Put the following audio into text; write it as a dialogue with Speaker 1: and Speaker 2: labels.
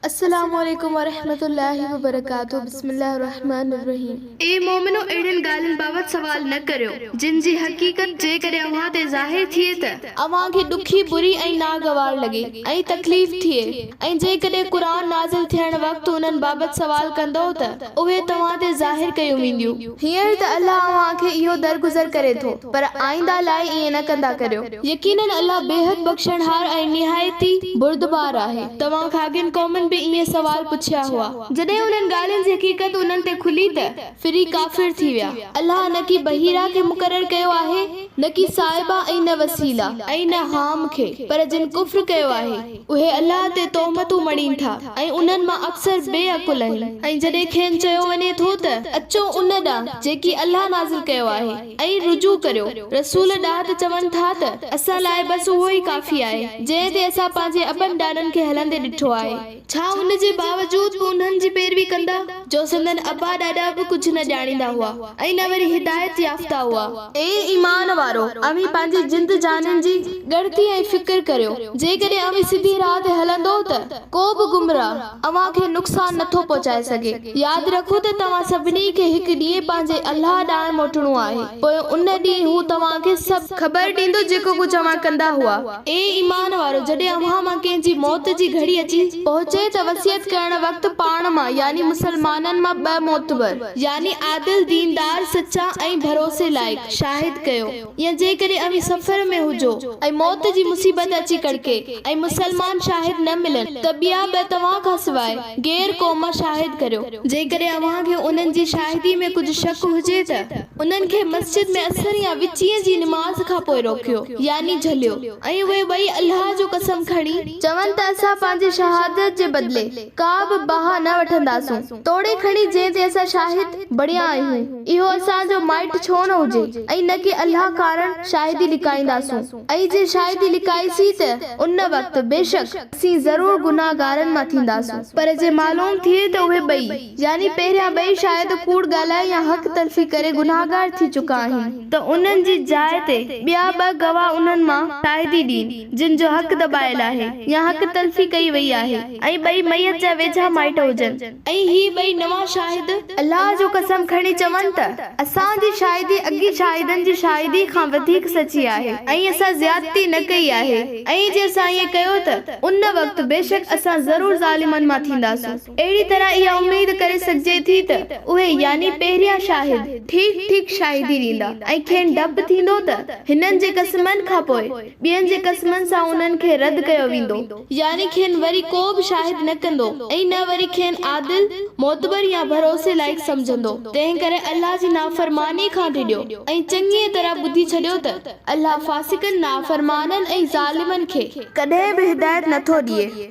Speaker 1: السلام عليڪم ورحمة الله وبرڪاته بسم الله الرحمٰن الرحيم. اي مومنو!
Speaker 2: اهڙين ڳالهين بابت سوال نه ڪريو، جن جي حقيقت جيڪڏهن اوهان تي ظاهر ٿئي ته. اوهان کي ڏکي،
Speaker 1: بري ۽ ناگوار لڳي ۽ تڪليف ٿئي ۽ جيڪڏهن قرآن نازل ٿيڻ وقت انهن بابت سوال ڪندؤ ته اهي توهان تي ظاهر ڪيون وينديون. هينئر ته الله اوهان کي اهو درگذر ڪري ٿو، پر آئنده لاء ائين نه ڪندا ڪريو. يقيناً الله بيحد بخشڻهار ۽ نهايت ئي بردبار آهي. توهان کان اڳين قومن به ائين سوال پڇيا هئا. جڏهن انهن ڳالهين جي حقيقت انهن تي کلي ته ڦري ڪافر ٿي ويا. الله نه ڪي بحيرا کي مقرر ڪيو آهي، نه ڪي صائبا ۽ نه وسيلا ۽ نه حام کي، پر جن ڪفر ڪيو آهي، اهي الله تي تهمتون مڙهين ٿا ۽ انهن مان اڪثر بي عقل آهن ۽ جڏهن کين چيو وڃي ٿو ته اچو ان ڏانهن جيڪي الله نازل ڪيو آهي، ۽ رجوع ڪريو رسول ڏانهن ته چون ٿا ته اسان لاء بس اهو ئي ڪافي آهي جنهن تي اسان پنهنجي ابن ڏاڏن کي هلندي ڏٺو آهي ڇا ان جي باوجود به انهن جي پيروي ڪندا جو سندن ابا ڏاڏا به ڪجهه نه ڄاڻيندا هئا ۽ نه وري هدايت يافته هئا. اي ايمان وارؤ اوهين پنهنجي جند جانين جي ڳڻتي ۽ فڪر ڪريو جيڪڏهن اوهين سڌي راهه تي هلندؤ ته ڪو به گمراهه. اوهان کي نقصان نه ٿو پهچائي سگهي. ياد رکو ته توهان سڀني کي هڪ ڏينهن پنهنجي الله ڏانهن موٽڻو آهي، پوء ان ڏينهن هو توهان کي سڀ. خبر ڏيندو جيڪو ڪجهه اوهان ڪندا هئا. اي ايمان وارؤ! جڏهن اوهان مان ڪنهن جي موت جي گهڙي اچي. پهچي ته وصيت ڪرڻ وقت پاڻ مان يعني مسلمانن مان ٻه معتبر يعني عادل، ديندار، سچا ۽ ڀروسي لائق، شاهد ڪيو. يا جيڪڏهن اوهين سفر ۾ هجو ۽ موت جي مصيبت اچي ڪڙڪي ۽ مسلمان شاهد نه ملن ته ٻيا به توهان کان سواء غير قوم شاهد ڪريو. جيڪڏهن اوهان کي انهن جي شاهدي ۾ ڪجهه شڪ هجي ته انهن کي مسجد ۾ عصر يا وچين جي نماز کان پوء روڪيو، يعني جهليو. ۽ اهي ٻئي الله جو قسم کڻي چون ته اسان پنهنجي شهادت جي بدلي ڪا به باهه نه وٺنداسون، توڙي کڻي جنهن تي اسان شاهد بڻيا آهيون، اهو اسان جو مائٽ ڇو نه هجي ۽ نه ڪي الله ڪارڻ شاهدي لڪائينداسون ۽ جي شاهدي لڪائي سي ته ان وقت بيشڪ اسين ضرور گنهگارن مان ٿينداسون، پر جي معلوم ٿئي ته اهي ٻئي، يعني پهريان ٻئي شاهد ڪوڙ ڳالهائي يا حق تلفي ڪري گنهگار ٿي چڪا آهن ته انهن جي جاء تي ٻيا ٻه گواهه انهن مان شاهدي ڏين. جن جو حق دٻايل آهي يا حق تلفي ڪئي وئي آهي ۽ ٻئي ميت جا ويجها مائٽ هجن. ۽ هي ٻئي نوان شاهد الله جو قسم کڻي چون ته اسان جي شاهدي اڳين شاهدن جي شاهدي کان وڌيڪ سچي آهي ۽ اسان زيادتي نه ڪئي آهي ۽ جي اسان ائين ڪيو ته ان وقت بيشڪ اسان ضرور ظالمن مان ٿينداسون اهڙي طرح اها اميد ڪري سگهجي ٿي ته اهي يعني پهريان شاهد ٺيڪ ٺيڪ شاهدي ڏيندا ۽ کين ڊپ ٿيندو ته هنن جي قسمن کانپوء ٻين جي قسمن سان انهن کي رد ڪيو ويندو، يعني کين وري ڪو به شاهد نه ڪندو ۽ نه وري کين عادل، معتبر يا ڀروسي لائق سمجهندو، تنهن ڪري الله جي نافرماني کان ڊڄو ۽ چڱيء طرح ٻڌي ڇڏيو ته الله فاسقن، نافرمانن ۽ ظالمن کي. ڪڏهن به هدايت نٿو ڏئي.